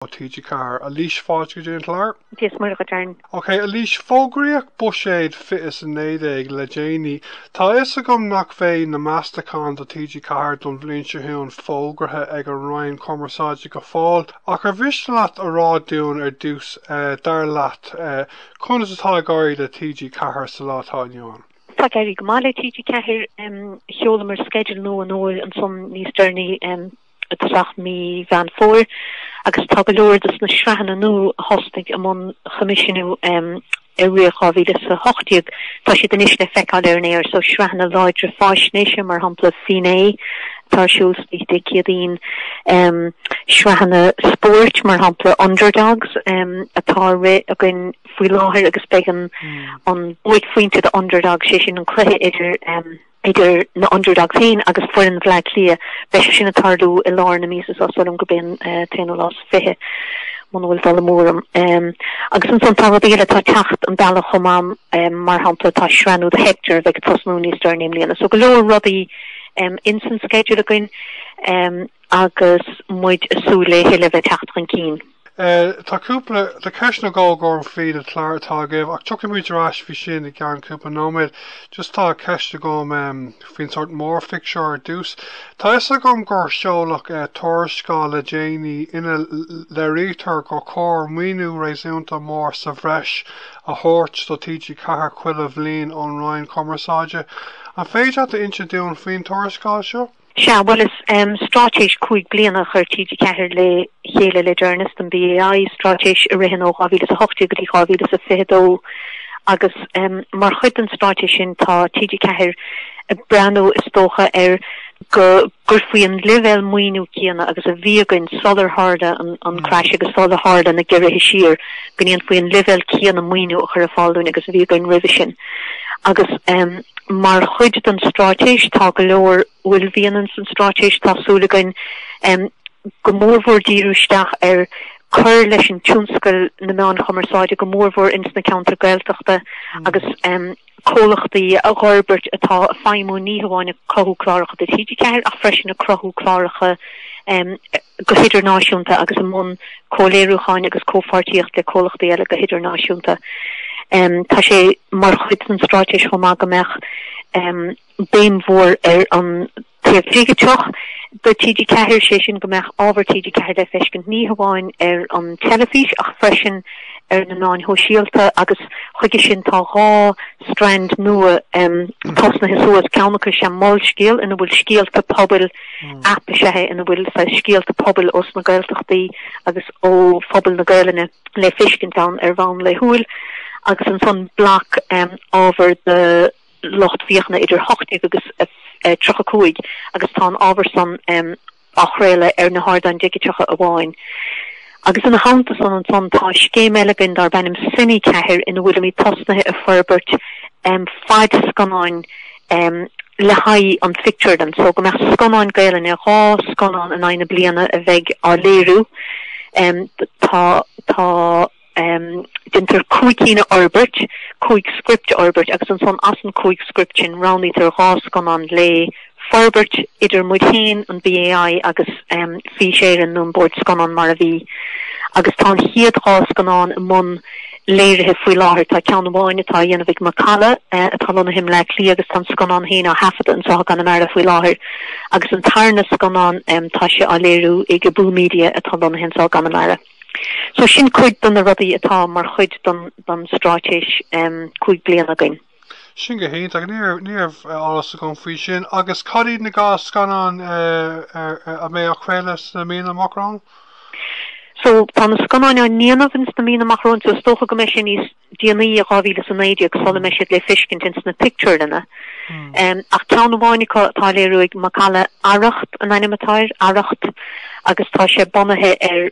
Ó TG Ceathair. Eilís, fáilte chuig an gclár. Dia is Muire dhuit go deimhin. Ok, Eilís, fógraíodh buiséad 2019 le déanaí. Tá a fhios agam nach mbeidh na meastacháin do TG4 don bhliain seo chugainn fógraithe ag an Roinn Cumarsáide go fóill, ach ar mhiste leat a rá dúinn ar dtús, dar leat, conas atá ag éirí le TG4 sa lá atá inniu ann? Tá ag éirí go maith le TG4. Sheolamar schedule nua an fhómhair ansan níos deireanaí. isteach mí Mheán Fómhair agus tá go leor de na sraitheanna nua a thosnaigh i mbun choimisiúnú i rith 2018. Tá siad anois le feiceáil ar an aer so sraitheanna láidre fáisnéise mar shampla Finné atá ar siúl Dé Céadaoin, sraitheanna spóirt mar shampla Underdogs atá ag rith againn faoi láthair agus beidh an buaicphointe do Underdogs, sé sin an cluiche idir. idir na Underdogs féin agus foireann Bhleá Cliath, beidh sé sin ag tarlú i lár na míosa so sílim gurb é an t-aonú lá is fiche, muna bhfuil dul amú orm. Agus ansan tá rudaí eile atá ag teacht an bealach chomh maith, mar shampla tá sraith nua do Hector a bheidh ag tosnú níos deireanaí i mbliana. So go leor rudaí ins an sceideal againn agus muid ag súil le a thuilleadh a bheith ag teacht chun cinn. Tá cúpla, tá ceist nó dhó agam faoi na cláir atá agaibh ach tiocfaidh muid ar ais chuige sin i gceann cúpla nóiméad. Just tá ceist agam um, faoin sórt mórphictiúr ar dús. Tá a fhios agam gur seoladh uh, tuarascáil le déanaí ina léirítear gur chóir maoiniú réasúnta mór sa bhreis a thabhairt do TG4 chuile bhliain ón Roinn Cumarsáide. An féidir leat a insint dúinn faoin tuarascáil seo? Sea, bhuel is straitéis cúig bliana a chuir TG4 le chéile le deireanas don BAI, straitéis a ritheann ó 2018 go dtí 2022 agus mar chuid den straitéis sin tá TG4 ag breathnú is dócha ar go gcuirfí an leibhéal maoiniú céanna agus a bhí againn sular tharla an crash agus sular tharla na gearrthacha siar, go ndéanfaí an leibhéal céanna maoiniú a chur ar fáil dúinn agus a bhí againn roimhe sin. Agus mar chuid den straitéis tá go leor, bhuel mhianta ann san straitéis, tá súil againn go mór mhór díriú isteach ar cur leis an tionscal na meán cumarsáide go mór mhór ins na ceantair Gaeltachta agus comhlachtaí a dh'fhorbairt atá ag feidhmiú ní hamháin ag cruthú cláracha do TG4 ach freisin ag cruthú cláracha go hidirnáisiúnta agus i mbun comhléiriúcháin agus comhpháirtíocht le comhlachtaí eile go hidirnáisiúnta. Tá sé mar chuid den straitéis chomh maith go mbeadh béim mhór ar an taobh dhigiteach de TG4, sé sin go mbeadh ábhar TG4 le feiscint ní hamháin ar an teilifís ach freisin ar na meáin shóisialta agus chuige sin tá dhá strand nua tosnaithe suas, ceann acu sin Molscéal ina bhfuil scéalta pobail, aip is ea é ina bhfuil saghas scéalta pobail ós na Gaeltachtaí agus ó phobal na Gaelainne le feiscint ann ar bhonn laethúil agus ansan bloc ábhar do lucht fiachana idir 18 agus 35 agus tá an ábhar san á chraoladh ar na hardáin digiteacha amháin. Agus ina theannta san ansan tá scéim eile againn darb ainm Cine4 ina bhfuilimid tosnaithe ag forbairt fadscannáin le haghaidh an phictiúrlann so go mbeadh scannáin Gaelainne, dhá scannán in aghaidh na bliana a bheidh á léiriú. Tá, tá, déantar cúig cinn a fhorbairt, cúig script a fhorbairt agus ansan as an cúig script sin roghnaítear dhá scannán le, forbairt idir muid féin, an BAI agus Fís Éireann nó an Bord Scannán mar a bhí agus tá an chéad dhá scannán i mbun léirithe faoi láthair. Tá ceann amháin atá a dhéanamh ag Macalla atá lonnaithe i mBleá Cliath agus tá an scannán féin á thaifeadadh anseo i gConamara faoi láthair agus an tarna scannán tá sé á léiriú ag Abú Media atá lonnaithe anseo i gConamara. So sin cuid dos na rudaí atá mar chuid don straitéis cúig bliana againn. Sin go hiontach. Ach ní raibh eolas agam faoi sin. Agus cad iad na dhá scannán a bheidh á chraoladh sna míonna amach romhainn? So tá na scannáin á ndéanamh ins na míonna amach romhainn so is dócha go mbeidh sé níos déanaí i 2019 sula mbeidh siad le feiscint ins na pictiúrlanna. Em ach ceann amháin acu atá á léiriú ag Macalla Arracht an ainm atá air, Arracht, agus tá sé bunaithe ar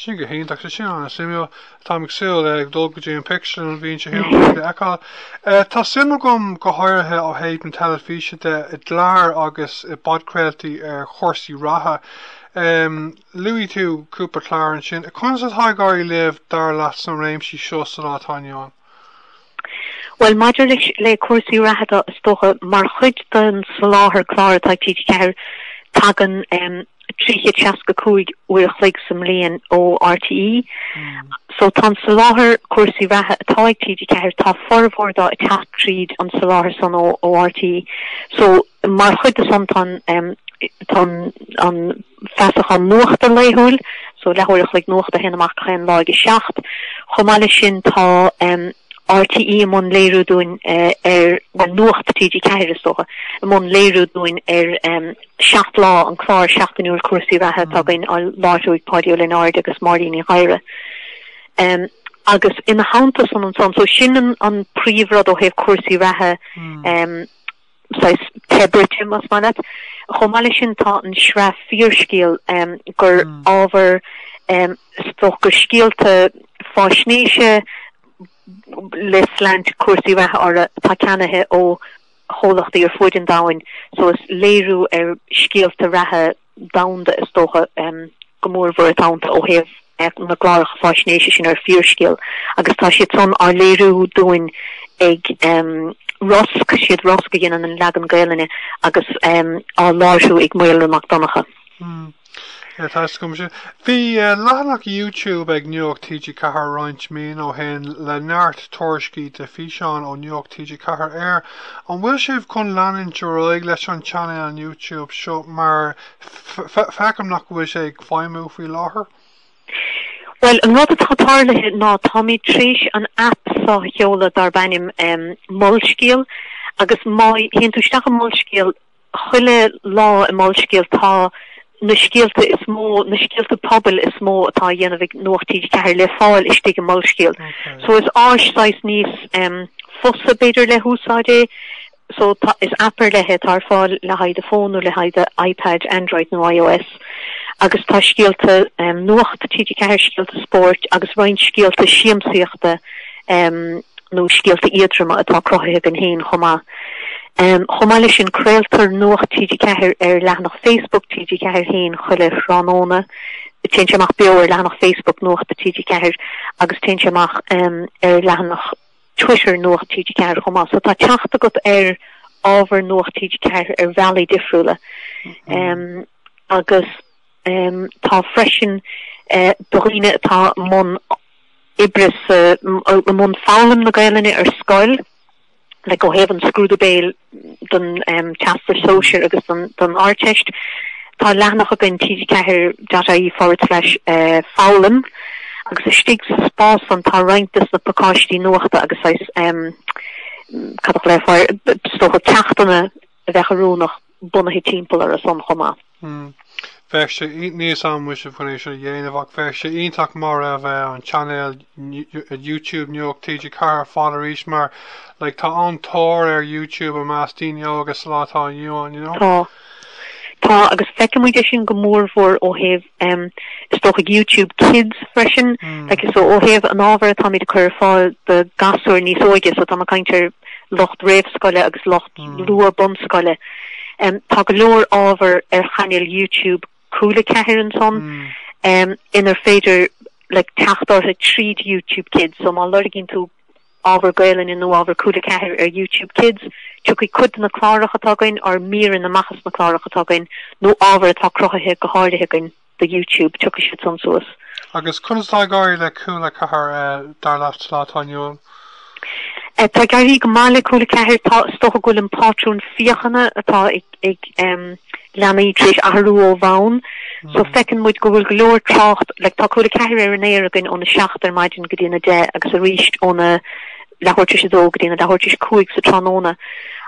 Sin go hiontach. Tá sin an-suimiúil. Táim ag súil le dul go dtí an phictiúrlann an bhliain seo chugainn chun iad a fheiceáil. Tá suim agam go háirithe ó thaobh na teilifíse de i gcláir agus i bpodchraoltaí ar chúrsaí reatha. Luaigh tú cúpla clár ansin. Conas atá ag éirí libh dar leat sna réimsí seo sa lá atá inniu ann? Bhuel, maidir leis le cúrsaí reatha de, is dócha, mar chuid den soláthar clár atá ag TG4, tagann 365 uair a chloig sa mbliain ó RTÉ. So tá an soláthar cúrsaí reatha atá ag TG4, tá formhór dó ag teacht tríd an soláthar san ó RTÉ. So, Mar chuid de san tá an feasachán nuachta laethúil, so leathuair a chloig nuachta a théann amach gach aon lá ag a seacht. Chomh maith leis sin tá RTÉ i mbun léiriú dúinn ar, bhuel Nuacht TG4 is dócha, i mbun léiriú dúinn ar Seacht Lá, an clár seachtainiúil cúrsaí reatha atá againn á láithriú ag Páidí Ó Lionáird agus Máirín Ní Ghadhra. Agus ina theannta san ansan, so sin an príomhrud ó thaobh cúrsaí reatha. saghas teilifíse más maith leat. Chomh maith leis sin tá an sraith Fíorscéal um, gur mm. ábhar um, stoca scéalta fáisnéise le slant cúrsaí reatha orthu atá ceannaithe ó chomhlachtaí ar fuaid an domhain so is léiriú ar scéalta reatha domhanda, is dócha, go mór mhór atá iontu ó thaobh na gcláracha fáisnéise sin ar Fíorscéal agus tá siad san á léiriú dúinn ag Rosg, is iad Rosg a dhéanann an leagan Gaelainne agus á láithriú ag Maolra Mac Donnchadha. Ar taistil go maith sin. Bhí leathanach YouTube ag Nuacht TG4 roinnt míonna ó shin le neart tuairiscí de fhíseáin ó Nuacht TG4 ar An bhfuil sibh chun leanúint ar aghaidh leis an channel YouTube seo mar feicim nach bhfuil sé ag feidhmiú faoi láthair? Bhuel an rud atá tarlaithe ná táimid tréis an aip seo a sheoladh darb ainm Molscéal agus má théann tú isteach i Molscéal, chuile lá i Molscéal tá na scéalta is mó, na scéalta pobail is mó atá á dhéanamh ag Nuacht TG4 le fáil istigh i Molscéal. So is áis saghas níos fusa b'fhéidir le húsáid é. So tá, is app ar leith é atá ar fáil le haghaidh do fhón nó le haghaidh do iPad, Android nó iOS. agus tá scéalta nuachta TG4, scéalta spóirt agus roinnt scéalta siamsaíochta nó scéalta éadroma atá cruthaithe againn féin chomh maith. Chomh maith leis sin craoltar nuacht TG4 ar leathanach Facebook TG4 féin chuile thráthnóna. Téann sé amach beo ar leathanach Facebook nuachta TG4 agus téann sé amach ar leathanach Twitter Nuacht TG4 chomh maith so tá teacht agat ar ábhar Nuacht TG4 ar bhealaí difriúla agus tá freisin do dhaoine atá i mbun oibre sa i mbun foghlaim na Gaelainne ar scoil like ó thaobh an scrúdú béil don Teastas Sóisear agus don Ardteist. Tá leathanach againn, TG4.ie forward slash foghlaim, agus istigh sa spás san tá roinnt des na pacáistí nuachta agus saghas, cad a chloisfear, is dócha ceachtanna a bheadh oiriúnach bunaithe timpeall orthu san chomh maith. Umm. Bheadh sé níos an-mhuise faoin é sin a dhéanamh ach bheadh sé iontach má bheadh an channel YouTube Nuacht TG4 ar fáil arís mar like tá an tóir ar YouTube i measc daoine óga sa lá atá inniu ann, you know. Tá. Tá agus feicimid é sin go mór mhór ó thaobh em is dócha ag YouTube Kids freisin, like so ó thaobh an ábhair atáimid ag cur ar fáil do ghasúir níos óige so tá mé ag caint ar lucht réamhscoile agus lucht luath bunscoile. Tá go leor ábhar ar chainéil YouTube Cúl a Ceathair ansan inar féidir like teacht orthu tríd YouTube Kids, so má loirgíonn tú ábhar Gaelainne nó ábhar Cúl a Ceathair ar YouTube Kids, tiocfaidh cuid de na cláracha atá againn, nó míreanna amach as na cláracha atá againn nó ábhar atá cruthaithe go háirithe againn. do YouTube, tiocfaidh siadsan suas. Agus conas atá ag éirí le Cúla Ceathair dar leat sa lá atá inniu ann? Tá ag éirí go maith le Cúla Ceathair, tá, is dócha go bhfuil an pátrún féachana atá ag ag leanaí tar éis athrú ó bhonn. So feiceann muid go bhfuil go leor trácht, like tá Cúla Ceathair ar an aer againn óna seacht ar maidin go dtí an a deich agus arís óna leathuair tar éis a dó go dtí an a leathuair tar éis a cúig sa tráthnóna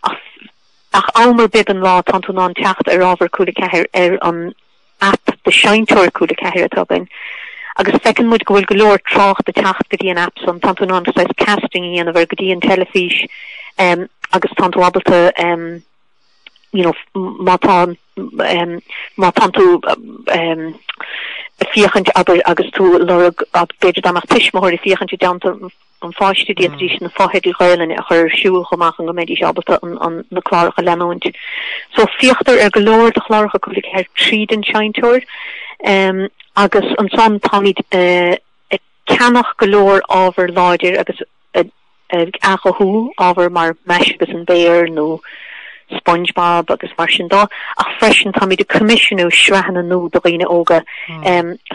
ach ach am ar bith den lá tá tú in ann teacht ar ábhar Cúla Ceathair ar an aip de sheinnteoir Cúla Ceathair atá againn agus feiceann muid go bhfuil go leor trácht ag teacht go dtí an aip san. Tá tú in ann saghas casting a dhéanamh ar go dtí an teilifís agus tá tú ábalta you know má tá má tá tú ag féachaint abair agus tú ag lorg b'fhéidir dá mbeadh tuismitheoirí féachaint i dteannta an pháiste d'fhéadfaidís na fotheidil Ghaelainne a chur ar siúl chomh maith chun go mbeidís ábalta na cláracha a leanúint. So féachtar ar go leor de chláracha Cúla Ceathair tríd an seinnteoir agus ansan táimid ag ceannach go leor ábhar láidir agus ag athghuthú ábhair mar Mais agus an Béar nó Spongebob agus mar sin de, ach freisin táimid ag coimisiúnú sraitheanna nua do dhaoine óga.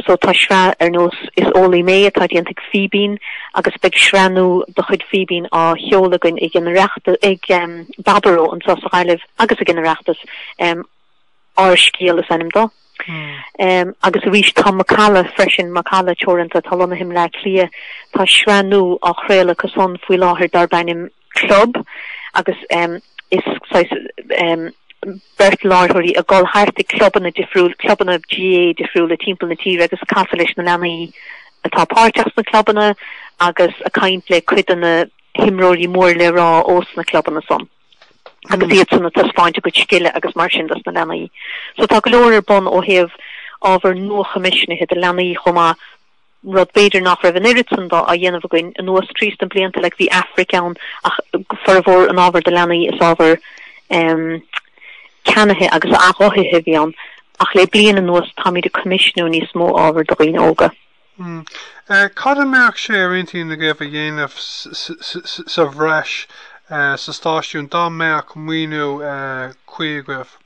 So tá sraith ar nós Is Eolaí Mé atá déanta ag Fíbín agus beidh sraith nua de chuid Fíbín á sheoladh againn ag an Oireachtas, ag Baboró anseo sa Ghaillimh agus ag an Oireachtas. Ár Scéal is ainm dó. Agus arís tá Macalla freisin, Macalla Teoranta, atá lonnaithe i mBleá Cliath. Tá sraith nua á chraoladh acusan faoi láthair darb ainm. Club agus is saghas beirt láithreoirí ag dul thart ag clubanna difriúla, clubanna GAA difriúla timpeall na tíre ag casadh leis na leanaí atá páirteach sna clubanna agus ag caint le cuid de na himreoirí mór le rá ós na clubanna san agus iadsan ag taispeáint a gcuid scile agus mar sin dos na leanaí. So tá go leor ar bun ó thaobh ábhar nua-choimisiúnaithe do leanaí chomh maith. rud b'fhéidir nach raibh an oiread san de á dhéanamh againn anuas tríd na blianta, like, bhí Aifric ann ach formhór an ábhair do leanaí is ábhar ehm ceannaithe agus athghuthaithe a bhí ann ach le bliain anuas táimid ag coimisiúnú níos mó ábhar do dhaoine óga. Hm. Cad a bheadh sé ar intinn agaibh a dhéanamh sa bhreis sa stáisiún dá mbeadh maoiniú cuí agaibh?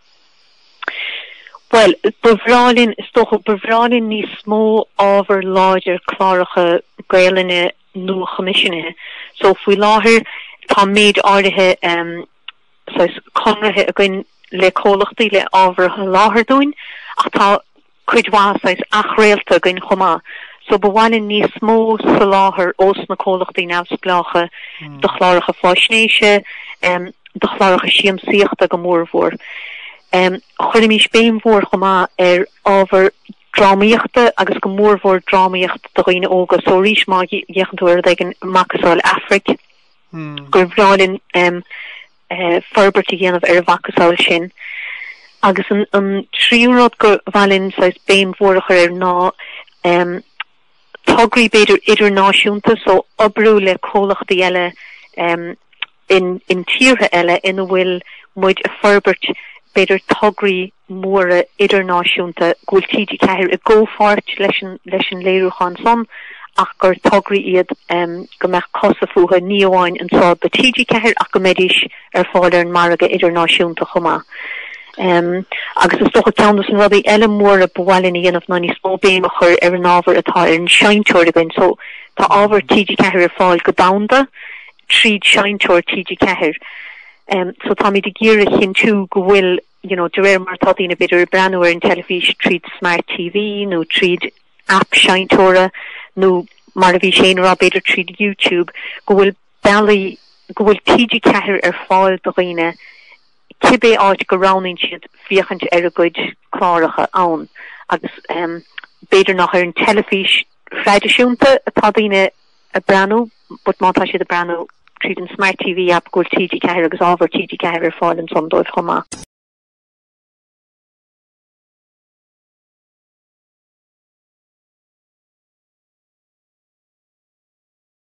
Bhuel, ba bhreá linn, is dócha, ba bhreá linn níos mó ábhar láidir cláracha Gaelainne nua-choimisiúnaithe. So, faoi láthair, tá méid áirithe um, conarthaí againn le comhlachtaí le ábhar a sholáthar dúinn, ach tá cuid mhaith saghas athchraolta againn chomh maith, so ba mhaith linn níos mó soláthair ós na comhlachtaí neamhspleácha do chláracha faisnéise, do chláracha siamsaíochta go mórmhór. Chuirfimis béim mhór chomh maith ar ábhar drámaíochta agus go mórmhór drámaíocht do dhaoine óga, so arís má fhéachann tú ar rud éigin macasamhail Aifric, gur bhreá linn. forbairt a dhéanamh ar a mhacasamhail sin agus an tríú rud gur mhaith linn saghas béim mhór a chur air ná tograí b'fhéidir idirnáisiúnta, so oibriú le comhlachtaí eile in tíortha eile ina bhfuil muid ag forbairt, b'fhéidir tograí. móra idirnáisiúnta, go bhfuil TG4 i gcomhpháirt leis an leis an léiriúchán san ach gur tograí iad go mbeadh cosa fúthu ní amháin anseo do TG4 ach go mbeidís ar fáil ar an margadh idirnáisiúnta chomh maith. Agus is dócha ceann dos na rudaí eile móra ba mhaith linn a dhéanamh ná níos mó béim a chur ar an ábhar atá ar an seinnteoir againn. So tá ábhar TG4 ar fáil go domhanda tríd seinnteoir TG4. So táimid ag iarraidh a chinntiú go bhfuil. you know, de réir mar atá daoine b'fhéidir ag breathnú ar an teilifís tríd Smart TV nó tríd aip seinnteora nó mar a bhí Séan ag rá b'fhéidir tríd YouTube go bhfuil bealaí go bhfuil TG4 ar fáil do dhaoine cibé áit go roghnaíonn siad féachaint ar a gcuid cláracha ann agus, um, b'fhéidir nach ar an teilifís thraidisiúnta atá daoine ag breathnú, but má tá siad ag breathnú tríd an Smart TV app go bhfuil TG4 agus ábhar TG4 ar fáil ansan dóibh chomh maith.